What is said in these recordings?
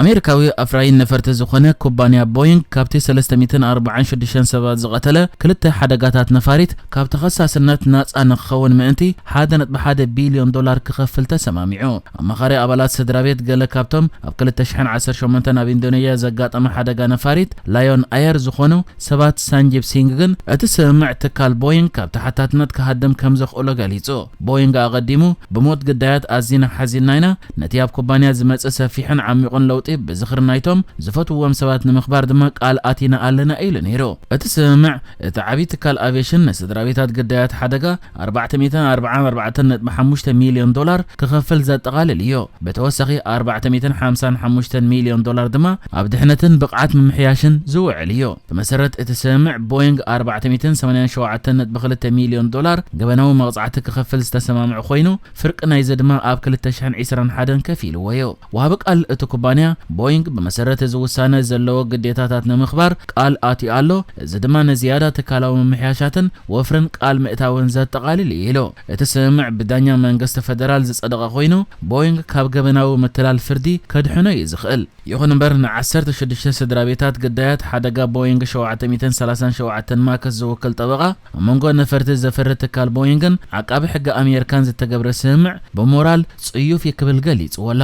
ኣሜሪካዊ ኣፍራዪ ነፈርቲ ዝኾነ ኩባንያ ቦይንግ ካብቲ ሰለስተ ሚእትን ኣርብዓን ሽዱሽተን ሰባት ዝቐተለ ክልተ ሓደጋታት ነፋሪት ካብ ተኸሳስነት ናጻ ንክኸውን ምእንቲ ሓደ ነጥቢ ሓደ ቢልዮን ዶላር ክኸፍል ተሰማሚዑ። ኣማኻሪ ኣባላት ስድራቤት ገለ ካብቶም ኣብ ክልተ ሽሕን ዓሰርተ ሸሞንተን ኣብ ኢንዶነዥያ ዘጋጠመ ሓደጋ ነፋሪት ላዮን ኣየር ዝኾኑ ሰባት ሳንጂብ ሲንግ ግን እቲ ስምምዕ ትካል ቦይንግ ካብ ተሓታትነት ክሃድም ከምዘኽእሎ ገሊጹ። ቦይንግ ኣቐዲሙ ብሞት ግዳያት ኣዚና ሓዚንና ኢና፣ ነቲ ኣብ ኩባንያ ዝመጽእ ሰፊሕን ዓሚቝን ለውጢ ብዝኽሪ ናይቶም ዝፈትውዎም ሰባት ንምኽባር ድማ ቃል ኣቲና ኣለና ኢሉ ነይሩ። እቲ ስምምዕ፣ እቲ ዓብዪ ትካል ኣቪየሽን ንስድራቤታት ግዳያት ሓደጋ ኣርባዕተ ሚእትን ኣርባዓን ኣርባዕተን ነጥቢ ሓሙሽተ ሚልዮን ዶላር ክኸፍል ዘጠቓልል እዩ። ብተወሳኺ ኣርባዕተ ሚእትን ሓምሳን ሓሙሽተን ሚልዮን ዶላር ድማ ኣብ ድሕነትን ብቕዓት ምምሕያሽን ዝውዕል እዩ። ብመሰረት እቲ ስምምዕ፣ ቦይንግ ኣርባዕተ ሚእትን ሰማንያን ሸውዓተን ነጥቢ ክልተ ሚልዮን ዶላር ገበናዊ መቕጻዕቲ ክኸፍል ዝተሰማምዐ ኮይኑ፣ ፍርቂ ናይዚ ድማ ኣብ ክልተ ሽሕን ዒስራን ሓደን ከፍ ኢልዎዮ። ወሃቢ ቃል እቲ ኩባንያ፣ ቦይንግ ብመሰረት እዚ ውሳነ ዘለዎ ግዴታታት ንምኽባር ቃል ኣትዩ ኣሎ፣ እዚ ድማ ንዝያዳ ትካላዊ ምምሕያሻትን ወፍርን ቃል ምእታውን ዘጠቓልል እዩ ኢሉ። እቲ ስምምዕ ብዳኛ መንግስቲ ፈደራል ዝጸደቐ ኮይኑ፣ ቦይንግ ካብ ገበናዊ ምትላል ፍርዲ ከድሕኖ እዩ ዝኽእል። ይኹን እምበር ንዓሰርተ ሽዱሽተ ስድራቤታት ግዳያት ሓደጋ ቦይንግ ሸውዓተ ሚእትን ሰላሳን ሸውዓተን ማክስ ዝውክል ጠበቓ፣ ኣብ መንጎ ነፈርቲ ዘፍሪ ትካል ቦይንግን ዓቃቢ ሕጊ ኣሜርካን ዝተገብረ ስምምዕ ብሞራል ጽዩፍ እዩ ክብል ገሊጽዎ ኣሎ።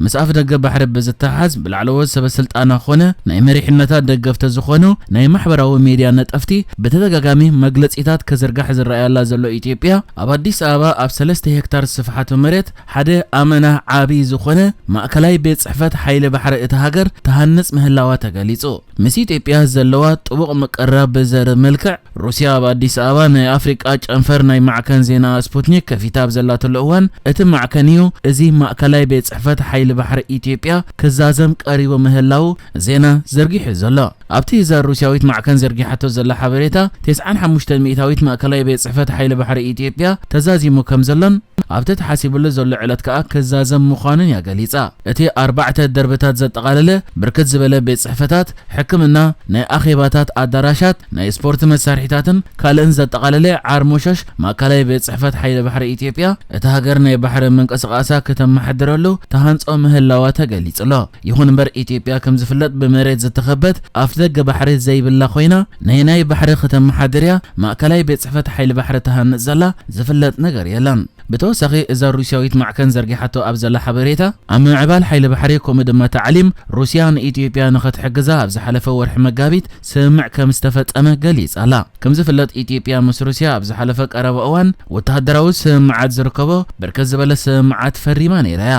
ምስ ኣፍደገ ባሕሪ ብዝተሓሓዝ ብላዕለዎት ሰበስልጣና ኮነ ናይ መሪሕነታ ደገፍቲ ዝኾኑ ናይ ማሕበራዊ ሚድያ ነጠፍቲ ብተደጋጋሚ መግለጺታት ክዝርጋሕ ዝረኣያላ ዘሎ ኢትዮጵያ ኣብ ኣዲስ ኣበባ ኣብ ሰለስተ ሄክታር ስፍሓቱ መሬት ሓደ ኣመና ዓቢ ዝኾነ ማእከላይ ቤት ጽሕፈት ሓይሊ ባሕሪ እታ ሃገር ትሃንጽ ምህላዋ ተገሊጹ። ምስ ኢትዮጵያ ዘለዋ ጥቡቕ ምቅርራብ ብዘርብ መልክዕ፣ ሩስያ ኣብ ኣዲስ ኣበባ ናይ ኣፍሪቃ ጨንፈር ናይ ማዕከን ዜና ስፑትኒክ ከፊታ ኣብ ዘላትሉ እዋን፣ እቲ ማዕከን እዩ እዚ ማእከላይ ቤት ጽሕፈት ሓይሊ ባሕሪ ኢትዮጵያ ክዛዘም ቀሪቡ ምህላዉ ዜና ዘርጊሑ ዘሎ። ኣብቲ እዛ ሩስያዊት ማዕከን ዘርጊሓቶ ዘላ ሓበሬታ፣ ቴስዓን ሓሙሽተን ሚእታዊት ማእከላይ ቤት ጽሕፈት ሓይሊ ባሕሪ ኢትዮጵያ ተዛዚሙ ከም ዘሎን ኣብቲ ተሓሲብሉ ዘሎ ዕለት ከኣ ክዛዘም ምዃኑን እያ ገሊጻ። እቲ ኣርባዕተ ደርብታት ዘጠቓለለ ብርክት ዝበለ ቤት ጽሕፈታት፣ ሕክምና፣ ናይ ኣኼባታት ኣዳራሻት፣ ናይ ስፖርት መሳርሒታትን ካልእን ዘጠቓለለ ዓርሞሸሽ ማእከላይ ቤት ጽሕፈት ሓይሊ ባሕሪ ኢትዮጵያ፣ እታ ሃገር ናይ ባሕሪ ምንቅስቓሳ ክተመሓድረሉ ትሃንጾ ምህላዋ ተገሊጹ'ሎ። ይኹን እምበር ኢትዮጵያ ከም ዝፍለጥ ብመሬት ዝተኸበት ኣፍደገ ባሕሪ ዘይብላ ኮይና ነየናይ ባሕሪ ክተመሓድር እያ ማእከላይ ቤት ጽሕፈት ሓይሊ ባሕሪ ትሃንጽ ዘላ ዝፍለጥ ነገር የለን። ብተወሳኺ እዛ ሩስያዊት ማዕከን ዘርጊሓቶ ኣብ ዘላ ሓበሬታ ኣብ ምምዕባል ሓይሊ ባሕሪ ከምኡ ድማ ታዕሊም ሩስያ ንኢትዮጵያ ንኽትሕግዛ ኣብ ዝሓለፈ ወርሒ መጋቢት ስምምዕ ከም ዝተፈጸመ ገሊጻ ኣላ። ከም ዝፍለጥ ኢትዮጵያ ምስ ሩስያ ኣብ ዝሓለፈ ቀረባ እዋን ወተሃደራዊ ስምምዓት ዝርከቦ ብርክት ዝበለ ስምምዓት ፈሪማ ነይራ እያ።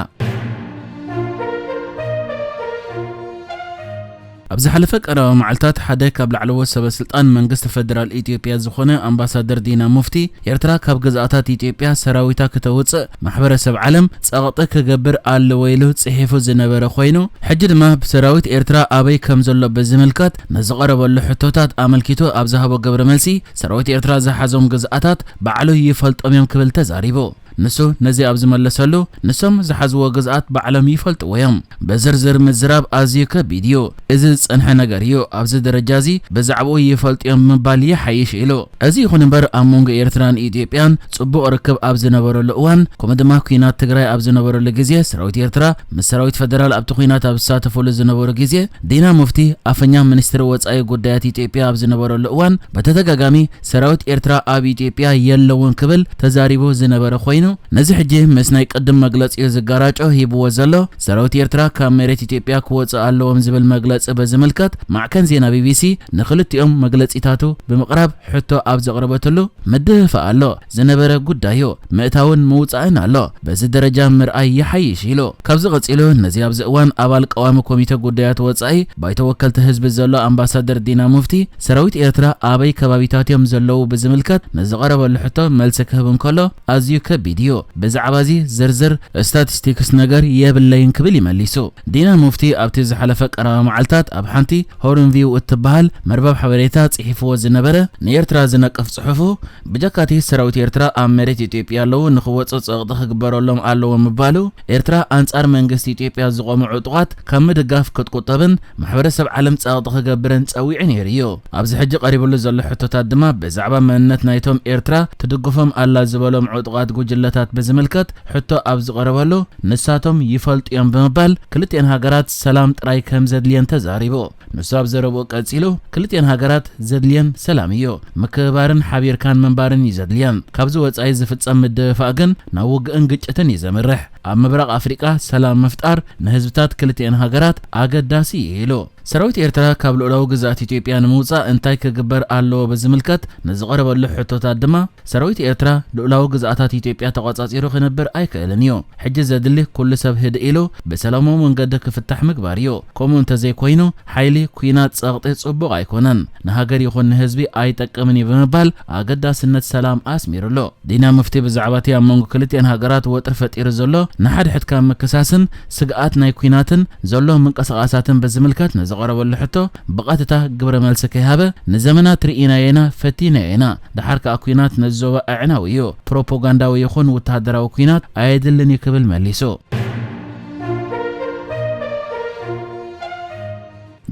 ኣብ ዝሓለፈ ቀረባ መዓልታት ሓደ ካብ ላዕለዎት ሰበ ስልጣን መንግስቲ ፈደራል ኢትዮጵያ ዝኾነ ኣምባሳደር ዲና ሙፍቲ ኤርትራ ካብ ግዝኣታት ኢትዮጵያ ሰራዊታ ክተውጽእ ማሕበረሰብ ዓለም ጸቕጢ ክገብር ኣለዎ ኢሉ ጽሒፉ ዝነበረ ኮይኑ ሕጂ ድማ ሰራዊት ኤርትራ ኣበይ ከም ዘሎ ብዝምልከት ንዝቐረበሉ ሕቶታት ኣመልኪቱ ኣብ ዝሃቦ ግብረ መልሲ ሰራዊት ኤርትራ ዝሓዞም ግዝኣታት ባዕሉ ይፈልጦም እዮም ክብል ተዛሪቡ። ንሱ ነዚ ኣብ ዝመለሰሉ፣ ንሶም ዝሓዝዎ ግዝኣት ባዕሎም ይፈልጥዎ እዮም። ብዝርዝር ምዝራብ ኣዝዩ ከቢድ እዩ። እዚ ዝጸንሐ ነገር እዩ፣ ኣብዚ ደረጃ እዚ ብዛዕባኡ ይፈልጡ እዮም ምባል ይሓይሽ ኢሉ። እዚ ይኹን እምበር ኣብ መንጎ ኤርትራን ኢትዮጵያን ጽቡቕ ርክብ ኣብ ዝነበረሉ እዋን ከምኡ ድማ ኲናት ትግራይ ኣብ ዝነበረሉ ግዜ ሰራዊት ኤርትራ ምስ ሰራዊት ፈደራል ኣብቲ ኲናት ኣብ ዝሳተፈሉ ዝነበሩ ግዜ ዲና ሙፍቲ ኣፈኛ ሚኒስትሪ ወጻኢ ጉዳያት ኢትዮጵያ ኣብ ዝነበረሉ እዋን ብተደጋጋሚ ሰራዊት ኤርትራ ኣብ ኢትዮጵያ የለውን ክብል ተዛሪቡ ዝነበረ ኮይኑ ነዚ ሕጂ ምስ ናይ ቅድም መግለጺኡ ዝጋራጮ ሂብዎ ዘሎ ሰራዊት ኤርትራ ካብ መሬት ኢትዮጵያ ክወጽእ ኣለዎም ዝብል መግለጺ ብዝምልከት ማዕከን ዜና ቢቢሲ ንክልቲኦም መግለጺታቱ ብምቕራብ ሕቶ ኣብ ዘቕረበትሉ ምድህፋእ ኣሎ ዝነበረ ጉዳዩ ምእታውን ምውጻእን ኣሎ በዚ ደረጃ ምርኣይ ይሓይሽ ኢሉ። ካብዚ ቀጺሉ ነዚ ኣብዚ እዋን ኣባል ቀዋሚ ኮሚተ ጉዳያት ወጻኢ ባይቶ ወከልቲ ህዝቢ ዘሎ ኣምባሳደር ዲና ሙፍቲ ሰራዊት ኤርትራ ኣበይ ከባቢታት እዮም ዘለዉ ብዝምልከት ምስ ዝቐረበሉ ሕቶ መልሲ ክህብ እንከሎ ኣዝዩ ከቢድ እዩ። ብዛዕባ'ዚ ዝርዝር ስታቲስቲክስ ነገር የብለይን ክብል እዩ መሊሱ። ዲና ሙፍቲ ኣብቲ ዝሓለፈ ቀረባ መዓልታት ኣብ ሓንቲ ሆርን ቪው እትበሃል መርበብ ሓበሬታ ጽሒፍዎ ዝነበረ ንኤርትራ ዝነቅፍ ጽሑፉ ብጀካ'ቲ ሰራዊት ኤርትራ ኣብ መሬት ኢትዮጵያ ኣለዉ ንኽወጹ ጸቕጢ ክግበረሎም ኣለዎ ምባሉ ኤርትራ ኣንጻር መንግስቲ ኢትዮጵያ ዝቖሙ ዕጡቓት ካብ ምድጋፍ ክትቁጠብን ማሕበረሰብ ዓለም ጸቕጢ ክገብርን ጸዊዑ ነይሩ እዩ። ኣብዚ ሕጂ ቀሪብሉ ዘሎ ሕቶታት ድማ ብዛዕባ መንነት ናይቶም ኤርትራ ትድግፎም ኣላ ዝበሎም ዕጡቓት ጉጅለታት ብዝምልከት ሕቶ ኣብ ዝቐረበሉ ንሳቶም ይፈልጡ እዮም ብምባል ክልቲኤን ሃገራት ሰላም ጥራይ ከምዘድልየን ተዛሪቡ። ንሱ ኣብ ዘረብኡ ቀጺሉ፣ ክልቲኤን ሃገራት ዘድልየን ሰላም ኢዩ። ምክብባርን ሓቢርካን ምንባርን ኢዩ ዘድልየን። ካብዚ ወጻኢ ዝፍጸም ምድፍፋእ ግን ናብ ውግእን ግጭትን ኢዩ ዘምርሕ። ኣብ ምብራቕ ኣፍሪቃ ሰላም ምፍጣር ንህዝብታት ክልቲኤን ሃገራት ኣገዳሲ ኢዩ ኢሉ። ሰራዊት ኤርትራ ካብ ልኡላዊ ግዝኣት ኢትዮጵያ ንምውጻእ እንታይ ክግበር ኣለዎ ብዝምልከት ንዝቐረበሉ ሕቶታት ድማ፣ ሰራዊት ኤርትራ ልኡላዊ ግዝኣታት ኢትዮጵያ ተቖጻጺሩ ክነብር ኣይክእልን ኢዩ። ሕጂ ዘድሊ ኩሉ ሰብ ህድእ ኢሉ ብሰላማዊ መንገዲ ክፍታሕ ምግባር እዩ። ከምኡ እንተዘይኮይኑ ሓይሊ፣ ኲናት፣ ጸቕጢ ጽቡቕ ኣይኮነን፣ ንሃገር ይኹን ንህዝቢ ኣይጠቅምን እዩ ብምባል ኣገዳስነት ሰላም ኣስሚርሉ። ዲና ሙፍቲ ብዛዕባ'ቲ ኣብ መንጎ ክልቲኤን ሃገራት ወጥሪ ፈጢሩ ዘሎ ንሓድሕድካ ምክሳስን ስግኣት ናይ ኲናትን ዘሎ ምንቅስቓሳትን ብዝምልከት ንዝቐረበሉ ሕቶ ብቐጥታ ግብረ መልሲ ከይሃበ ንዘመናት ርኢናዮ ኢና፣ ፈቲናዮ ኢና፣ ደሓር ከኣ ኲናት ነዚ ዞባ ኣዕናዊ እዩ፣ ፕሮፖጋንዳዊ ይኹን ውተሃደራዊ ኲናት ኣየድልን እዩ ክብል መሊሱ።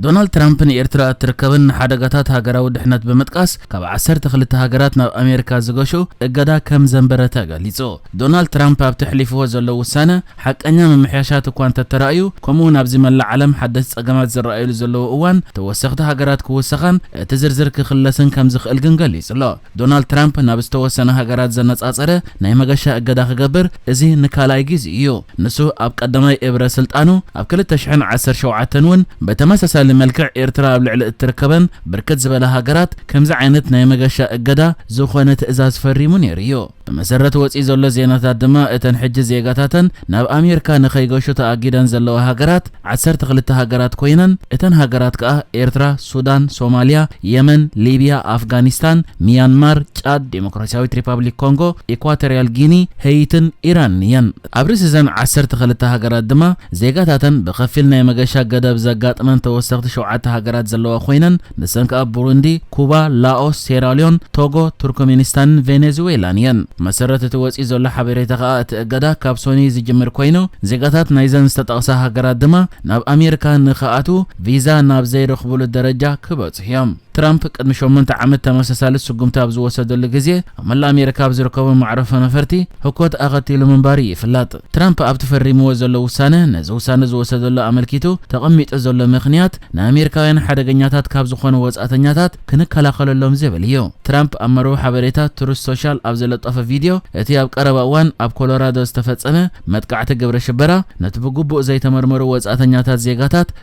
ዶናልድ ትራምፕ ንኤርትራ እትርከበን ንሓደጋታት ሃገራዊ ድሕነት ብምጥቃስ ካብ ዓሰርተ ክልተ ሃገራት ናብ ኣሜሪካ ዝገሹ እገዳ ከም ዘንበረ ተገሊጹ። ዶናልድ ትራምፕ ኣብቲ ኣሕሊፍዎ ዘሎ ውሳነ፣ ሓቀኛ ምምሕያሻት እኳ እንተተራእዩ፣ ከምኡ'ውን ኣብዚ መላእ ዓለም ሓደስቲ ጸገማት ዝረኣዩሉ ዘለዉ እዋን፣ ተወሰኽቲ ሃገራት ክውሰኻን እቲ ዝርዝር ክኽለስን ከም ዝኽእል ግን ገሊጹ'ሎ። ዶናልድ ትራምፕ ናብ ዝተወሰና ሃገራት ዘነጻጸረ ናይ መገሻ እገዳ ክገብር እዚ ንካልኣይ ግዜኡ'ዩ። ንሱ ኣብ ቀዳማይ እብረ ስልጣኑ ኣብ ክልተ ሽሕን ዓሰርተ ሸውዓተን እውን ብተመሳሳሊ መልክዕ ኤርትራ ኣብ ልዕሊ እትርከበን ብርክት ዝበላ ሃገራት ከምዚ ዓይነት ናይ መገሻ እገዳ ዝኾነ ትእዛዝ ፈሪሙ ነይሩ'ዩ። ብመሰረት ወጺኡ ዘሎ ዜናታት ድማ እተን ሕጂ ዜጋታተን ናብ ኣሜርካ ንኸይገሹ ተኣጊደን ዘለዋ ሃገራት ዓሰርተ ክልተ ሃገራት ኮይነን እተን ሃገራት ከኣ ኤርትራ፣ ሱዳን፣ ሶማልያ፣ የመን፣ ሊብያ፣ ኣፍጋኒስታን፣ ሚያንማር፣ ጫድ፣ ዴሞክራሲያዊት ሪፓብሊክ ኮንጎ፣ ኢኳቶርያል ጊኒ፣ ሄይትን ኢራንን እየን። ኣብ ርእሲ'ዘን ዓሰርተ ክልተ ሃገራት ድማ፣ ዜጋታተን ብኸፊል ናይ መገሻ ገደብ ዘጋጥመን ተወሰኽቲ ሸውዓተ ሃገራት ዘለዋ ኮይነን፣ ንሰን ከኣ ቡሩንዲ፣ ኩባ፣ ላኦስ፣ ሴራልዮን፣ ቶጎ፣ ቱርክሜኒስታንን ቬኔዝዌላን እየን። ብመሰረት እቲ ወጺኡ ዘሎ ሓበሬታ ከኣ እቲ እገዳ ካብ ሶኑይ ዝጅምር ኮይኑ፣ ዜጋታት ናይዘን ዝተጠቕሳ ሃገራት ድማ ናብ ኣሜሪካ ንክኣትዉ ቪዛ ናብ ዘይረኽቡሉ ደረጃ ክበጽሑ እዮም። ትራምፕ ቅድሚ ሸሞንተ ዓመት ተመሳሳሊ ስጉምቲ ኣብ ዝወሰደሉ ግዜ ኣብ መላእ ኣሜሪካ ኣብ ዝርከቡ መዕረፎ ነፈርቲ ህኮት ኣኸቲሉ ምንባሩ እዩ ይፍላጥ። ትራምፕ ኣብቲ ፈሪምዎ ዘሎ ውሳነ ነዚ ውሳነ ዝወሰደሉ ኣመልኪቱ ተቐሚጡ ዘሎ ምኽንያት ንኣሜሪካውያን ሓደገኛታት ካብ ዝኾኑ ወጻእተኛታት ክንከላኸለሎም ዝብል እዩ። ትራምፕ ኣብ መርበብ ሓበሬታ ትሩዝ ሶሻል ኣብ ዝለጠፎ ቪድዮ እቲ ኣብ ቀረባ እዋን ኣብ ኮሎራዶ ዝተፈጸመ መጥቃዕቲ ግብረ ሽበራ ነቲ ብግቡእ ዘይተመርመሩ ወጻእተኛታት ዜጋታት